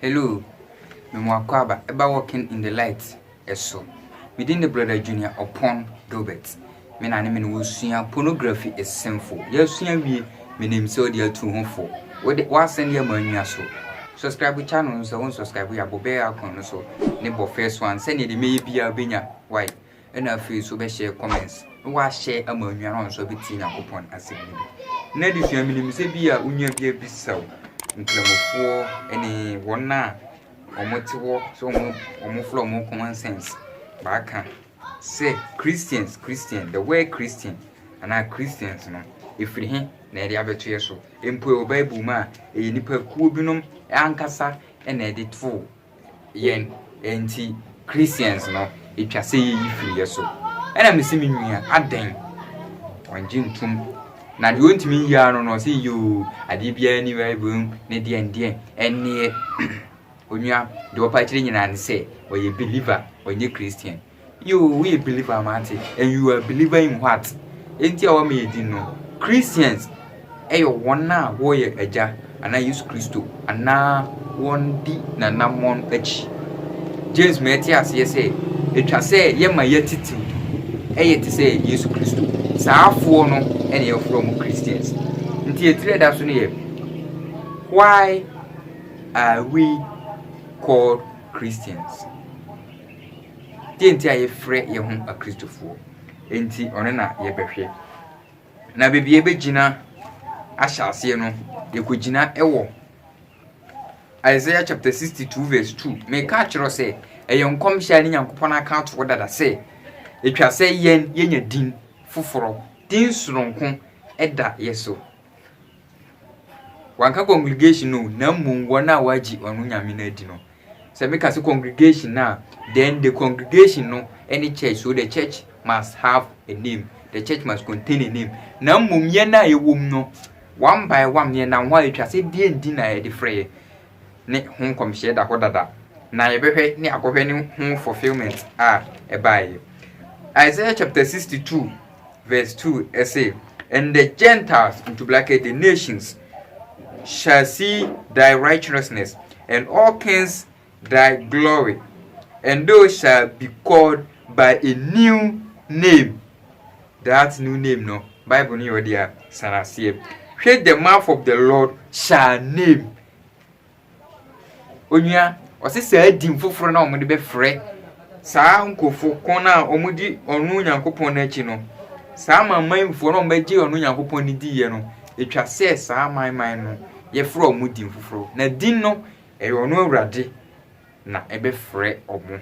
Hello, me mo Akwaaba ba walking in the light so. Me din de Brother Junior Opon Dobert. Me na ne me ne wo sua pornography is sinful. Yɛ sua wie, me nim sɛ ɔde atu ho fo. Wo de, wa send yɛ ma anwia so. Subscribe channel no sɛ wo nsubscribe yɛ abɔ bɛɛ icon no so ne bɔ first one sɛnea deɛ mɛyɛ biara bɛnya why. Ɛna afei nso bɛhyɛ comments na wahyɛ ama anuanom a nso bɛtie Nyankopɔn asɛm no bi. Na adesua menim sɛ bi a onua bi abisaw nkramofoɔ ne wɔn a wɔn te hɔ sɛ wɔn wɔn fla wɔn common sense baaka sɛ Christians Christian the word Christian anaa Christians no ɛfiri he na ɛde abɛtoɛ so mpo ɛwɔ Bible mu a ɛyɛ nipa kuo binom ankasa na ɛde too Yɛn nti Christians no etwa sɛ yeyi firi yɛ so. Ɛna mese me nua adɛn? Ɔngye ntom. Na deɛ ɔntumi nyi ara no no ɔse yoo adeɛ biara ni bible mu ne deɛ ndeɛ ɛneɛ onua deɛ ɔpa akyire nyinaa ne sɛ ɔyɛ believer ɔnyɛ Christian. Yoo woyɛ believer a mate and you are believer in what? Enti a wɔma yɛ din no Christians ɛyɛ wɔn a wɔyɛ agya anaa Yesu Kristo anaa wɔn di n'anammɔn akyi. James ma yɛte aseɛ sɛ ɛtwa sɛ yɛma yɛatitiw ɛyɛ te sɛ Yesu Kristo. Saafoɔ no ɛna yɛfrɛ wɔn Christians. Nti ɛtirɛ da so no yɛ why are we called Christians? Deɛ nti a yɛfrɛ yɛn ho Akristofoɔ nti, ɔno na yɛbɛhwɛ. Na baabi a yɛbɛgyina ahyɛ aseɛ no, yɛkɔgyina wɔ Isaiah chapter 62 verse 2. Meka akyerɛ sɛ ɛyɛ nkɔmhyɛ a ne Nyankopɔn aka atoɔ dada sɛ ɛtwa sɛ yɛn yɛnya din foforɔ, din soronko da yɛ so. Wɔannka congregation no o, na mmom wɔn a wɔagye ɔno Nyame no adi no. Sɛ meka sɛ congregation a, then the congregation no ne church, so the church must have a name, the church must contain a name. Na mmom yɛn a yɛwɔ mu no, one by one, yɛnam hɔ a yɛtwa sɛ deɛn din na yɛde frɛ yɛ. ne ho nkɔmhyɛ da hɔ dada, na yɛbɛhwɛ ne akɔhwɛ ne ho fulfillment a ɛbaeɛ. Isaiah chapter 62 verse 2 ɛse, And the Gentiles, into bracket, the nations, shall see thy righteousness, and all kings thy glory, and thou shalt be called by a new name. That new name no, Bible no yɛ ɔde a san aseɛ. Hwɛ the mouth of the Lord shall name. Onua, ɔse saa din foforɔ na wɔde bɛfrɛ saa nkurɔfo kɔn a wɔdi ɔno Nyankopɔn no akyi no. Saa amanmanfoɔ na wɔbɛgye ɔno Nyankopɔn no diiɛ no, ɛtwa sɛ saa amanman no yɛfrɛ wɔn din foforɔ. Na din no, ɛyɛ ɔno Awurade na ɛbɛfrɛ wɔn.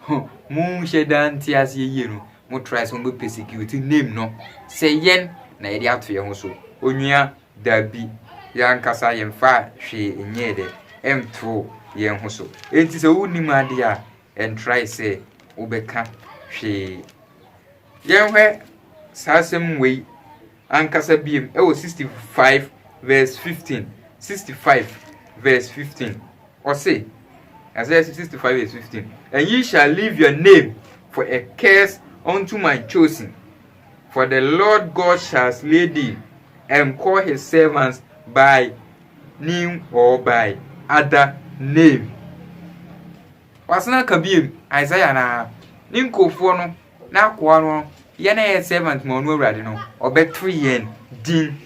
Huh mo nhyɛ da nte aseɛ yie no mo try sɛ mo bɛ persecute name no sɛ yɛn na yɛde ato yɛn ho so onua dabi yɛn ankasa yɛn fa hwee nyɛɛ dɛ ɛnto yɛn ho so enti sɛ wo nim adeɛ a ɛn try sɛ wobɛka hwee yɛn hwɛ saa asɛm wei ankasa biom wɔ 65 vs 15, 65 vs 15, ɔse, Isaiah 65 vs 15, And ye shall leave your name for a curse unto my chosen, for the Lord God shall slay thee, and call his servants by new or by other name. Wasena ka biom, Isaiah na ne nkurɔfoɔ no N'akoa no, yɛn a yɛyɛ servant ma ɔno Awurade no, ɔbɛto yɛn din.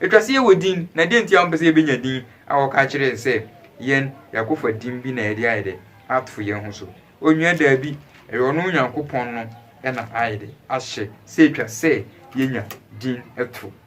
Ɛtwa sɛ yɛwɔ din, na deɛ nti a wɔmpɛ sɛ yɛbɛnya din a wɔka kyerɛ yɛn sɛ yɛn yɛakɔfa din bi na yɛde ayɛ dɛ ato yɛn ho so. Onua daabi, ɛyɛ ɔno Onyankopɔn no na ayɛ dɛ ahyɛ sɛ ɛtwa sɛ yɛnya din to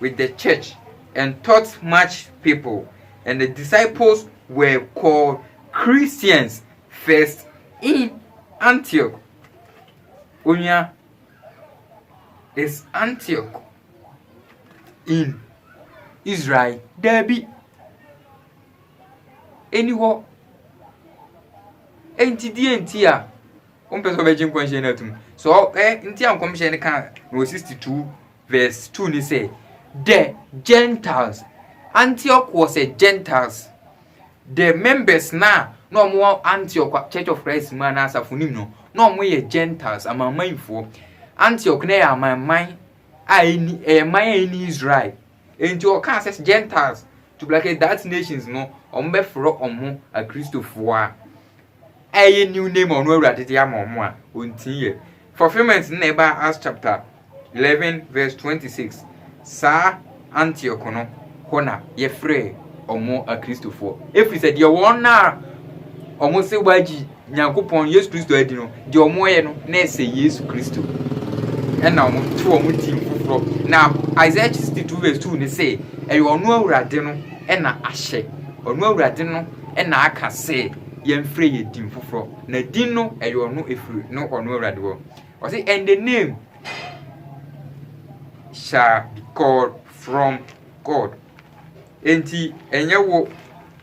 with the church and taught much people, and the disciples were called Christians first in Antioch. Onua is Antioch in Israel. Dabi. Ɛni hɔ. Enti deɛ nti a wɔmpɛ sɛ wɔbɛgye nkɔmhyɛ no atum. So ɛ nti a nkɔmhyɛ no ka na wɔ 62 Verse two no sɛ, The Gentiles, Antioch was a Gentiles. The members no a na wɔn wɔ Antioch Church of Christ mu anaa asafo no mu no, na wɔn yɛ Gentiles, amanmanfoɔ. Antioch no yɛ amanman a ɛni ɛyɛ man a ɛni Israel. Enti ɔkaa sɛ Gentiles to black that nations no, wɔn bɛfrɛ wɔn akristofoɔ a. Ɛyɛ new name a ɔno Awurade de ama wɔn a wɔntii yɛ. Fulfillment no na ɛbaa Acts chapter eleven verse twenty six. Saa Antioch no, hɔ na yɛfrɛɛ wɔn Akristofoɔ. Ɛfiri sɛ deɛ wɔn a wɔn se wɔagye Nyankopɔn Yesu Kristo adi no, deɛ wɔn yɛ no na ɛsɛ Yesu Kristo. Ɛna wɔn to wɔn din foforɔ. Na Isaiah sixty two verse two no se, ɛyɛ ɔno Awurade no ɛna ahyɛ. Ɔno Awurade no na aka sɛ yɛmfrɛ yɛ din foforɔ na din no ɛyɛ ɔno ɛfiri no ɔno awurade hɔ ɔse and the name shall be called from god enti ɛnyɛ wo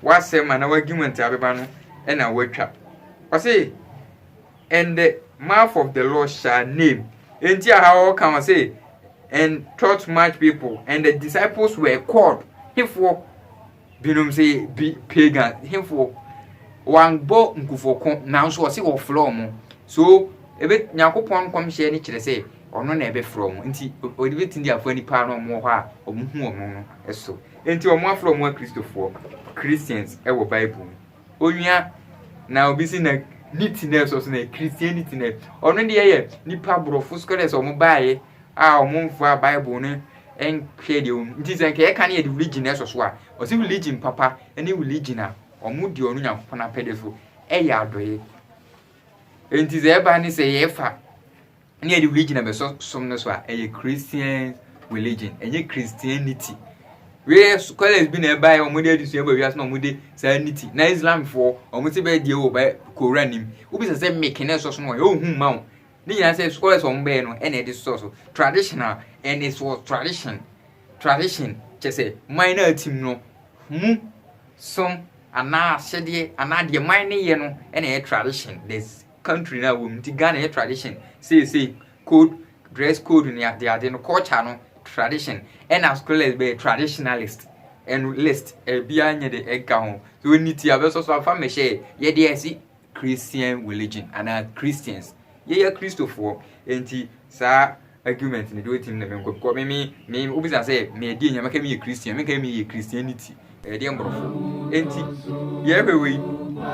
w'asɛm anaa w'agimanti abɛba no ɛna woatwa ɔse and the mouth of the lord shall name enti aha ɔka wɔ se and taught much people and the disciples were called hefoɔ Binom se bi pagan hefo wɔanbɔ nkufo ko nanso ɔse wɔfrɛ wɔn. So ebe Nyankopɔn nkɔmhyɛ no kyerɛ sɛ ɔno na ɛbɛfrɛ wɔn nti ɔbetumi de afa nnipa a na wɔwɔ hɔ a wɔhu wɔn no so? Enti wɔafrɛ wɔn Akristofoɔ, Christians, wɔ Bible mu. onua na obi si na neatness ɔsɛ na christian neatness ɔno deɛ yɛ nipa borɔfo scholars ɔmo baayɛ a ɔmo nfa bible no nhwɛ deɛ ɔmo nti sɛ nka yɛka no yɛde religion ɛsɔ so a ɔsɛ religion papa ɛne religion a ɔmo di ɔno nyankopɔn apɛde so ɛyɛ adɔyɛ nti sɛ ɛba ne sɛ yɛfa ne yɛde religion na bɛsɔ som no so a ɛyɛ christian religion ɛnyɛ christianity wei scholars bi na ɛbaeɛ wɔn de adesua bɔ wiase na wɔn de saa niti na islamfoɔ wɔn ti bɛyɛ deɛ wɔ bɛ kora nim wobi sɛ sɛ meke na ɛsɔ so no wɔyɛ ohun hmm, ma wɔn ne nyinaa sɛ scholars wɔn bɛyɛ no ɛna ɛde sɔ so traditional and it's for tradition tradition kyɛ sɛ man na atim no mu som anaa ahyɛdeɛ anaa deɛ man ne yɛ no ɛna ɛyɛ tradition there's country no a wɔwɔ mu nti Ghana yɛ tradition seesei code dress code ne ade ade no culture no tradition ɛna scholars bɛyɛ traditionalist ɛno list ɛbiara nyɛ de ɛka ho so ɔni ti abɛsɔ so afa mɛhyɛ yɛde ɛsi Christian religion anaa Christians yɛyɛ Kristofoɔ nti saa argument ne deɛ ɔtim ne menkɔ because me me me wobisa sɛ meɛdeɛ nyame ka meyɛ christian menka meyɛ christianity ɛyɛ deɛ mborɔfo enti yɛhwɛ wei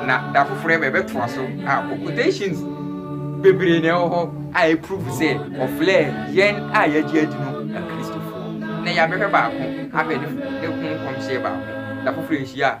na da foforɔ ɛbɛ ɛbɛtoa so a quotations bebree na ɛwɔ hɔ a ɛprove sɛ ɔflɛ yɛn a yɛagye adi no akristofoɔ na yɛabɛhwɛ baako abɛ ne ho nkɔmhyɛ baako da foforɔ nhyia a